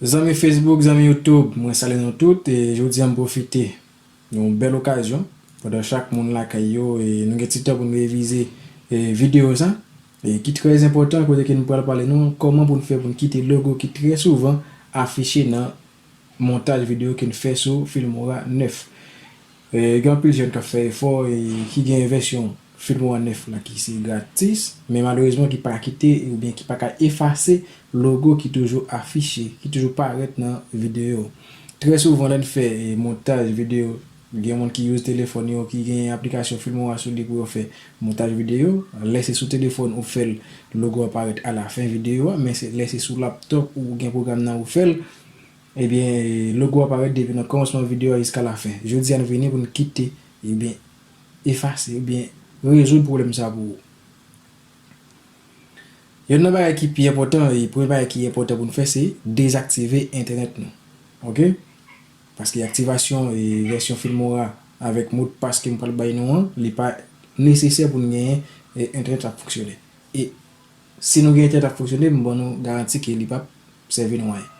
Zanmi Facebook, zanmi YouTube, mwen salye nou tout e jodi an m pwofite yon bèl okazyon pandan chak moun lakay yo e nou gen ti tan pou n revize videyo sa e ki trè enpòtan kote ke nou pral pale nou kòman pou n fè pou n kite logo ki trè souvan afiche nan Montaj videyo ke n fè sou Filmora 9. Gen anpil jèn k ap fè efò e ki gen vèsyon Filmora 9 la ki se gratis, men malerezman ki pa kite oubyen ki pa ka efase logo ki toujou afiche, ki toujou parèt nan videyo. Trè souvan lè n fè montaj videyo, Gen moun ki use telefòn yo ki gen aplikasyon Filmora sou li pou yo fè montaj videyo. Lè se sou telefòn ou fè l, logo a parèt alafen videyo a, men lè se sou laptop ou gen pwogram nan ou fè l, ebyen logo a parèt depi nan kòmansman videyo a jiska lafen. Jodi a nou vini pou n kite ebyen efase oubyen rezoud pwoblèm sa pou ou. Yonn nan bagay ki pi enpòtan e premye bagay ki enpòtan pou n fè se dezaktive entènèt nou ok. Paske aktivasyon vèsyon Filmora avèk modpas ke m pral bay nou an, li pa nesesè pou n genyen entènèt ap fonksyone. E si nou gen entènèt ap fonksyone, m ban nou garanti ke li pap sèvi nou anyen.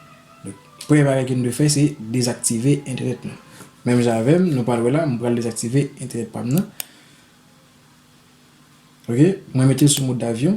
Donk, premye bagay ke nou dwe fè se dezaktive entènèt nou. Menm jan avè m, nou pral wè la, m pral dezaktive entènèt pa m nan. Ok, mwen mete l sou mode avion.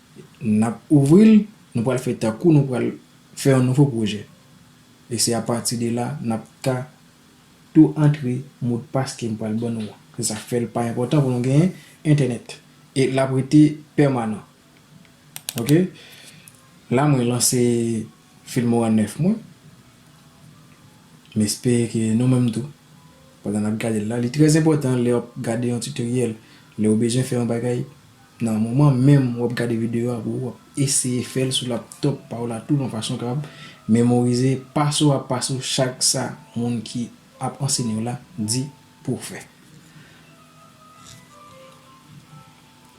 N ap ouvri l, nou pral fè tankou nou pral fè yon nouvo pwojè. E se apati de la n ap ka tou antre modpas ke m pral ban nou an. Se sa k fè l pa enpòtan pou nou genyen entènèt. E l ap rete pèmanan. Ok. La mwen lanse Filmora 9 mwen. M espere ke nou menm tou, pandan n ap gade l la, li trè enpòtan lè w ap gade yon tutoriel, lè w bezwen fè yon bagay, Nan moman menm wap gade video a pou wap eseye fèl sou laptop pa w la tou yon fason kab memorize paso a paso chak sa moun ki ap ansenye w la di pou w fè.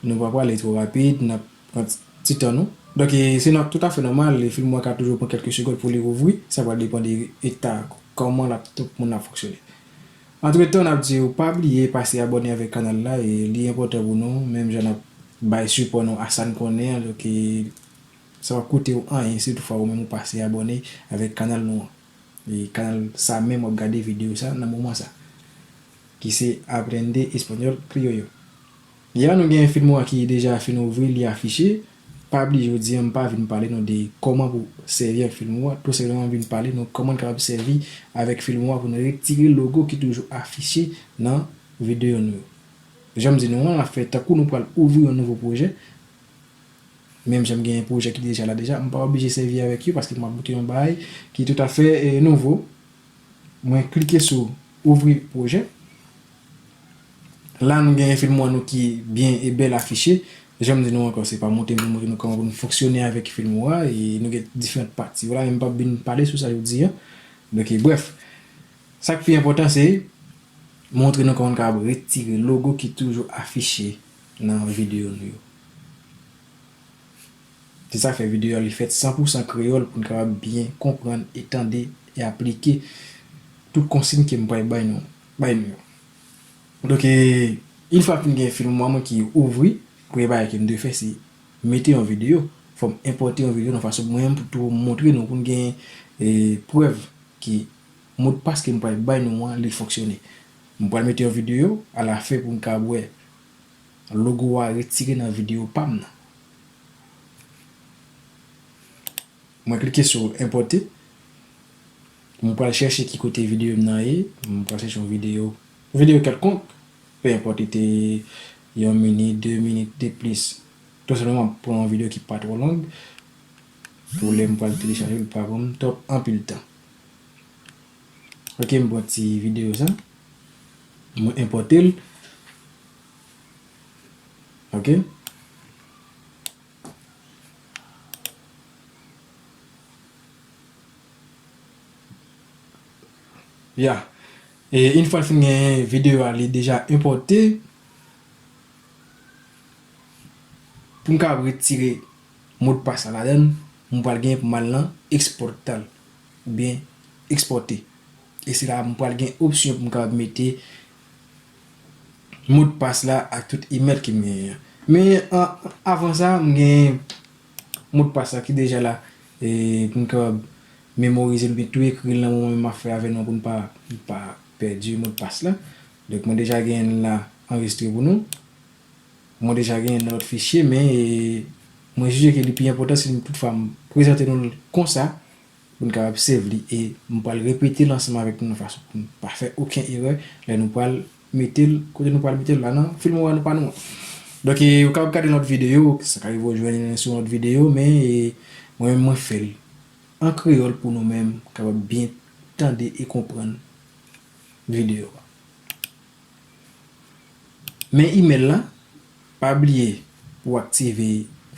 Nou pa pwale two rapid nap pran ti tan nou. Donk se toutafè nòmal film an ka toujou pran kelke segond pou li ouvri sa pwal depan de eta koman laptop moun nan ap fonksyone. Antretan nap diw pa bliye pase abòne avèk kanal la e li enpòtan pou nou menm jan nap bay sipò nou a sann konnen an ke sa pap kotew anyen si toutfwa ou menm ou pase abòne avèk kanal nou an e kanal sa menm wap gade video sa nan moman sa ki se aprende español criollo. Ya nou gen film wa ki deja fin ouvri li afiche, pa bliye jodi an m pa vin pale nou de kòman pou sèvi ak film wa, tou senpleman m vin pale nou kòman n kapab sèvi avèk film wa pou n retire logo ki toujou afiche nan videyo nou yo. Jan m di nou an, l ap fè tankou nou pral ouvri yon nouvo pwojè, menm jan m genyen pwojè ki deja la deja, m pa oblije sèvi avèk yo paske m ap boute yon bagay ki toutafè nouvo. Mwen klike sou ouvri pwojè. La nou gen film an nou ki byen e bèl afiche. Janm di nou ankò se pa monte m pou montre nou kòman pou nou fonksyone avèk film ou a e nou gen diferant pati. Wala m pap vin pale sou sa jodi an. Donk brèf. Sak pi enpòtan se montre nou kòman nou kapab retire logo ki toujou afiche nan video nou yo. Se sa k fè videyo a li fèt san pou san kreyòl pou n kapab byen konprann e tande e aplike tout konsign ke m pral bay nou bay nou yo. Donk e Une fwa m fin gen film mwen ki ouvri, premye bagay ke m dwe fè se mete yon videyo, fò m enpòte yon videyo nan fason mwen menm pou tou m montre nou pou n gen e prèv ke modpas ke m pral bay nou an li fonksyone. M pral mete yon videyo a la fen pou n kapab wè. Logo a retire nan video pam nan. Mwen klike sou enpote. Mwen pral chèche ki kote video m nan ye. Mwen pral chèche yon video. Video kelkonk. Pe enpote te yon minit, de minit, de plis. Tou se mwen mwen pran yon video ki pa tro long. Pou lè mwen pral telechaje l pa pran m trop anpil tan. Ok m pran ti video sa. Mwen enpote l. Ok. Ya. E in fwa l fin gen video a li deja enpote. Pou m ka retire modpas la ladan. Mwen pral gen pou m al nan exportal. oubyen ekspòte e se la m pral gen opsyon pou m kapab mete modpas la ak tout email ke m genyen an men avan sa m gen modpas la ki deja la e pou m kapab memorize l oubyen tou ekri l nan moman menm m ap fè avè nou an pou n pa pèdi modpas la donk mwen deja genyen l la anrejistre pou nou mwen deja genyen l nan lòt fichye men mwen jije ke li pi enpòtan si m tout fwa m prezante nou l konsa. pou n ka ap sèv li e m pral repete l ansanm avèk nou nan fason pou n pa fè oken erè lè nou pral mete l kote nou pral mete l la nan Filmora nou pa nou an. Donk e ou kapab gade lòt videyo, sa ka rive ou jwenn youn sou yon lòt videyo men e mwen menm mwen fè l an kreyòl pou nou menm kapab byen tande e konprann videyo a. Men email lan, pa bliye pou w aktive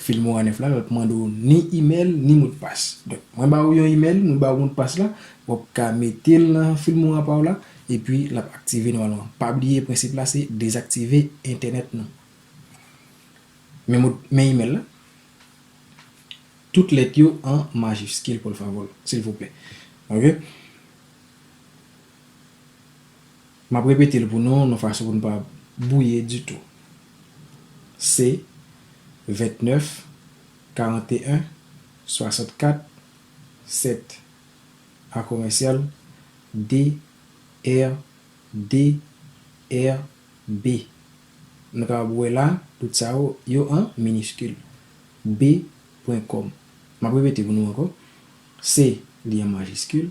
Filmora 9 la, l ap mande w ni email ni modpas. Donk mwen ba ou yon email, mwen ba ou modpas la, w ap ka mete l nan Filmora pa w la, epi l ap aktive nòmalman. Pa bliye prensip la se dezaktive entènèt nou. Men email la, tout lèt yo an majiskil por favor, silvouplè. Ok. M ap repete l pou nou, yon fason pou nou pa bwouye ditou. Se, 29, 41, 64, 7. A komèsyal, de, er, de, er, be. Nou kapab wè la, tout sa yo, yo an miniskil. Be pwen kòm. M ap repete pou nou ankò. Se, li an majiskil.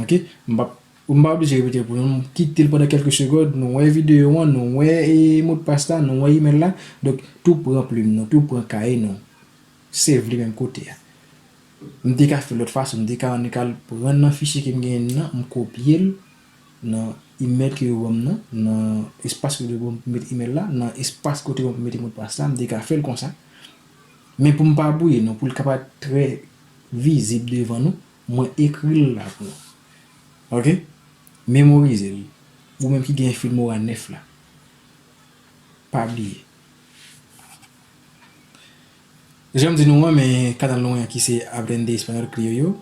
Ok m pap m pa oblije repete l pou nou, kite l pandan kèlke segond, nou wè videyo an, nou wè modpas la, nou wè imèl la, donk tou pran plim nou, tou pran kaye nou, save li menm kote a. M te ka fè l lòt fason, m te ka annik al pran nan fichye ke m genyen nan, m kopye l nan imèl ke yo ban m nan, nan espas kote yo ban m pou m mete imèl la, nan espas kote yo ban m pou m mete modpas la, m te ka fè l konsa, men pou m pa bwouye nou, pou l ka pa trè vizib devan nou, Mwen ekri l la pou nou. Ok. Memorize l. Ou menm ki gen Filmora 9 la. Pa bliye. Jan m di nou an, men kanal nou an ki se Aprende Español Criollo.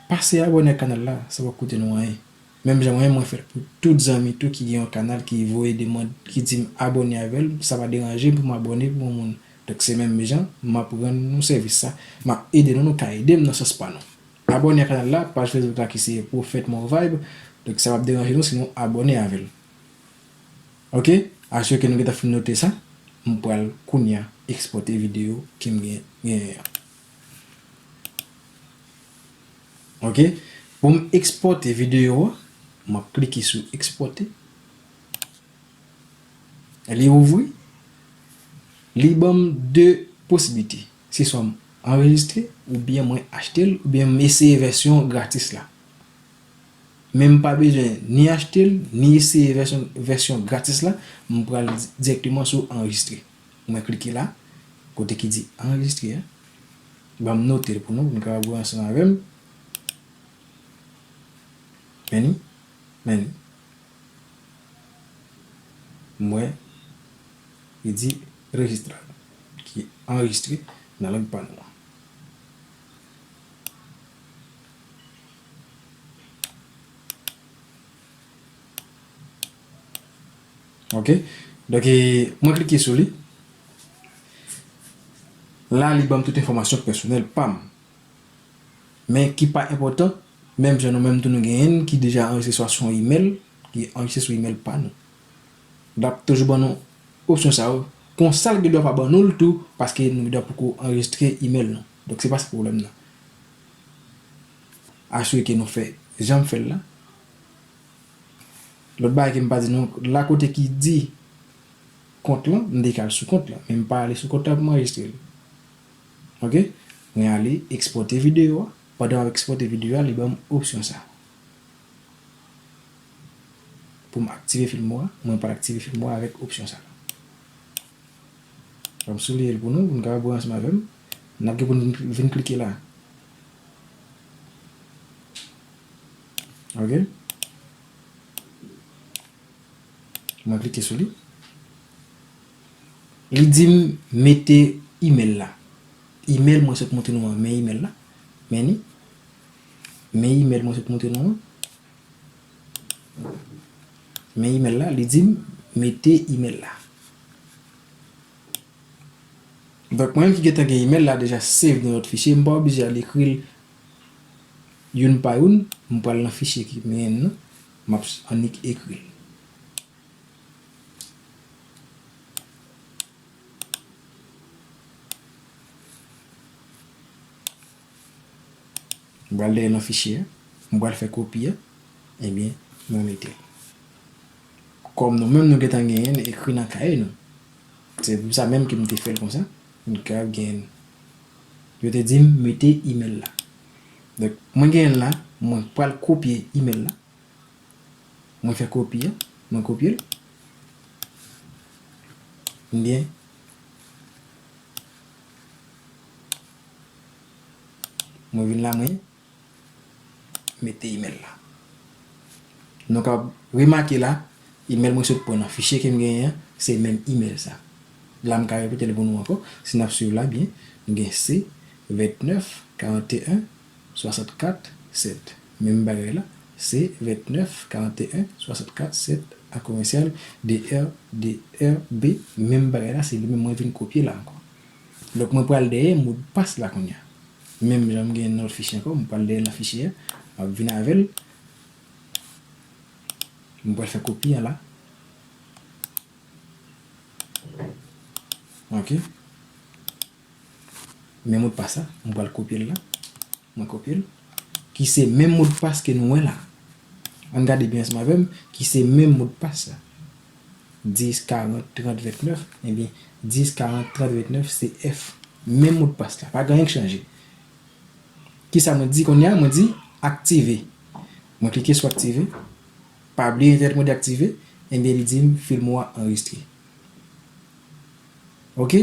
Pase abone ak kanal la. Sa pap koute nou anyen. Menm jan mwen mwen fèl pou tout zanmi tou ki gen yon kanal ki voye demand ki dim abòne avèl sa pa deranjem poum abòne pou yon moun donk se menm jan map rann nou sèvis sa map ede nou nou ka edem nan sans pa nou abòne a kanal la paj facebook la ki se prophète more vibe donk sa pap deranje nou si nou abòne avèl ok asire ke nou gentan fin note sa mpral kounya ekspòte video kem gen genyen an. Ok pou m ekspòte videyo a m ap klike sou ekspòte li ouvri li banm 2 posiblite se swa m anrejistre oubyen mwen achte l oubyen m eseye vèsyon gratis la men m pa bezwen ni achte l ni eseye vèsyon gratis la m pral direkteman sou anrejistre. Mwen klike la, kote ki di anrejistre a. Banm notel pou nou, pou nou kapab wè ansanm avèm. Many, many. M wè li di rejistre, ki anrejistre nan lang pa nou an. Ok donk mwen klike sou li la li banm tout enfòmasyon pèsonèl pam men ki pa enpòtan menm jan nou menm tou nou gen yen ki deja anrejistre swa sou yon email ki anrejistre sou email pa nou lap toujou ban nou opsyon sa yo konsa l gen dwa pa ban nou l tou paske nou gen dwa poko anrejistre email nou donk se pa sa pwoblèm nan asire ke nou fè janm fè l la. Lòt bagay ke m pa di nou, la kote ki di kont lan, m te ka al sou kont lan, men m pa ale sou kont lan pou m anrejistre l. Ok. Mwen ale ekspòte videyo a, pandan m ap ekspòte videyo a, li ban m opsyon sa. Pou m aktive film mwen, mwen pral aktive film mwen avèk opsyon sa. Fò m souliye l pou nou, pou nou kapab wè ansanm avè m. N ap gen pou nou vin klike la. Ok. Mwen klike sou li. Li di m mete email la. Email mwen sot montre nou an. Men email la. Men li. Men email mwen sot montre nou an. Men email la. Li di m mete email la. Donk mwen ki gen tan gen email la deja save nan lòt fichye. M pa oblije al ekri l. Youn pa youn, m pral nan fichye ki men n nan, m ap annik ekri l. M pral dèyè nan fichye a, m pral fè kopi a, ebyen mwen mete l. Kòm nou menm nou gen tan genyen l ekri nan kaye nou, se pou sa menm ke m te fè l konsa, m te kapab genyen l. Yo te dim mete email la. Donk mwen genyenl la mwen pral kopye email la. Mwen fè kopi an mwen kopyel. Mbyen. Mwen vin la mwen. mete email la. Nou kab remake la, email mwen sot pran nan fichye ke m genyen an, se menm email sa. La m ka repete l pou nou ankò, si n ap swiv la byen, nou gen C 29 41 64 7, menm bagay la, C 29 41 64 7 a komèsyal DR DR B, menm bagay la, se li menm mwen vin kopye la ankò. Donk mwen pral dèyè mo de passe la kounya. Menm jan m gen nan lòt fichye ankò, m pral dèyè nan fichye a, m ap vin avè l. Mwen pral fè kopi a la. Ok. Men mo de passe la, mwen pral kopye l la. Mwen kopye l. Ki se menm modpas ke nou wè la. An n gade byen ansanm avè m. Ki se menm modpas la. 10, 40, 30, 29. Ebyen, 10, 40, 30, 29 se F. Menm modpas la. Pa gen anyen k chanje. Ki sa mwen di kounye a? Mwen di aktive. Mwen klike sou aktive. Pa bliye entènèt mwen deaktive. Ebyen li di m film ou a anrejistre. Ok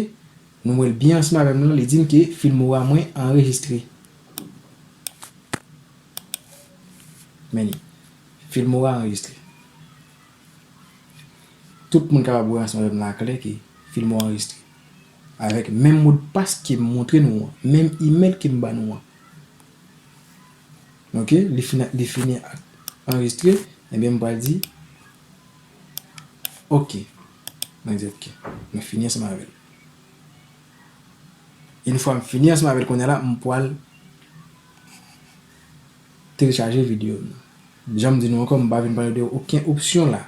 Nou wèl byen ansanm avèm lan li dim ke filmora mwen anrejistre Men li Filmora anrejistre Tout moun kapab wè ansanm avèm lan aklè ke filmora anrejistre Avèk menm modpas kem montre nou an Menm email kem ba nou an Ok li fin li fini anrejistre Ebyen m pral di Ok Mwen di ok. Mwen fini ansanm avè l. Une fwa m fini ansanm avè l kounya la m pwal telechaje videyo m nan. Jan m di nou ankò m pa vin pale de oken opsyon la.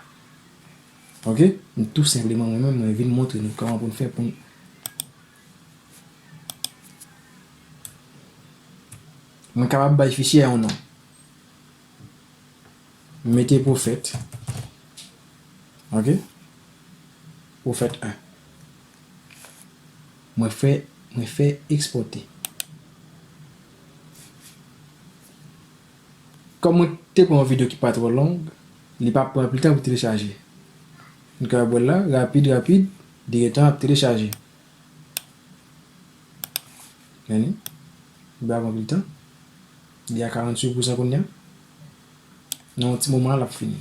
Ok? M tou senpleman mwen menm mwen vin montre nou kòman pou n fè pou n Mwen kapab bay fichye a yon non. M mete pwofèt ok pwofèt 1 mwen fè mwen fè ekspòte kòm mwen te pran yon video ki pa twò long li pap pran anpil tan pou telechaje nou ka wè l la rapid rapid li gen tan ap telechaje men li li pa pran anpil tan li a 48 pousan kounya. Nan yon ti moman lap fini.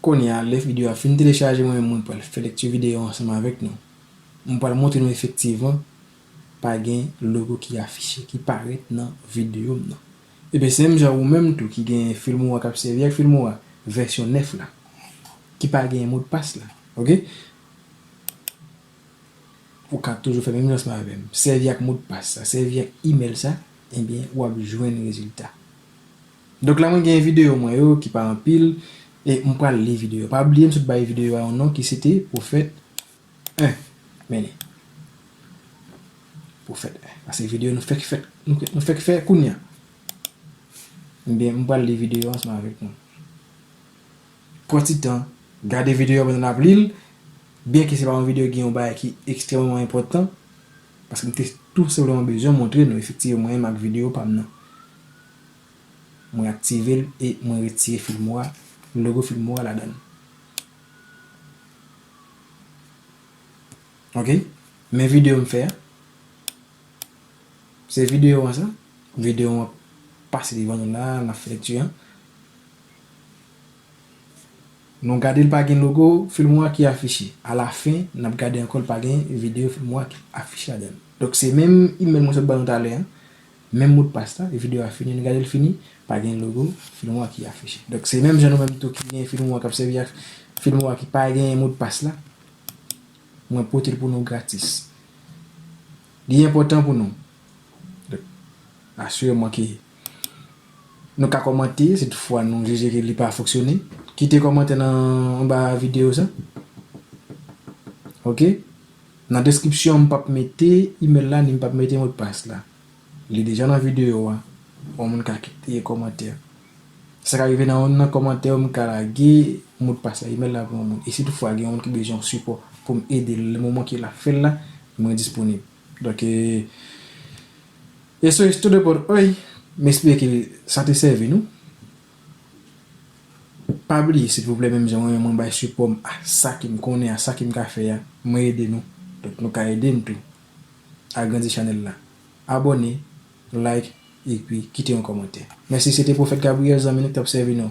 Kounye a lè video a fin telechaje mwen menm mwen pral fè lekti video ansanm avèk nou. Mwen pral montre nou efektivman pa gen logo ki afiche, ki parèt nan video m nan. Ebyen se menm jan ou menm tou ki gen filmora kap sèvi ak filmora vèsyon 9 la ki pa gen modpas la ok ou ka toujou fè menm jan seman avèm sèvi ak modpas sa sèvi ak email sa ebyen wap jwenn rezilta donk la mwen gen videyo mwen yo ki pa anpil e m pral li videyo pa bliye m sot bay videyo a yon non ki sete pwofèt 1 menen pou fèt 1 pase video nou fèk fèt nou fèk fè kounya ebyen m pral li video an seman avèk nou pran ti tan gade video an pandan nap li l byen ke se pa yon video gen yon bagay ki ekstrememan enpòtan paske m te tou senpleman bezwen montre nou efektive mwen menm ak video pa m nan mwen aktive l e mwen retire filmora logo filmora ladan l. Ok men video m fè a se video an sa video an pase devan nou la nap fè lekti an nou gade l pa gen logo filmora ki afiche a la fen nap gade ankò l pa gen video filmora ki afiche ladan l donk se menm email mwen sot ban nou talè an Menm modpas la, video a fini nou gade l fini, pa gen logo Filmora ki afiche. Donk se menm jan nou menm tou ki gen Filmora kap sèvi ak Filmora ki pa gen modpas la, mwen pote l pou nou gratis. Li enpòtan pou nou. Donk asireman ke nou ka kòmante si tout fwa nou jije ke li pa fonksyone. Kite kòmantè nan anba video sa. Ok. Nan deskripsyon an m pap mete email la ni m pap mete modpas la. Li deja nan videyo a. Yon moun ka kite kòmantè. Sa ka rive nan youn nan kòmantè yo m ka lage modpas la, email la pou yon moun. E si tout fwa gen yon moun ki bezwen yon sipò pou m ede l le moman ke l ap fè l la, mwen disponib. Donk e Eso es todo por hoy. M espere ke sa te sèvi nou. Pa bliye silvouplè menm jan mwen menm mwen bay sipòm a sa ke m konnen a sa ke m ka fè a mwen ede nou donk nou ka ede m tou agrandi chanèl la abòne like epi kite yon kòmantè mèsi se te pwofèt Gabriel zanmi nou ki t ap sèvi nou.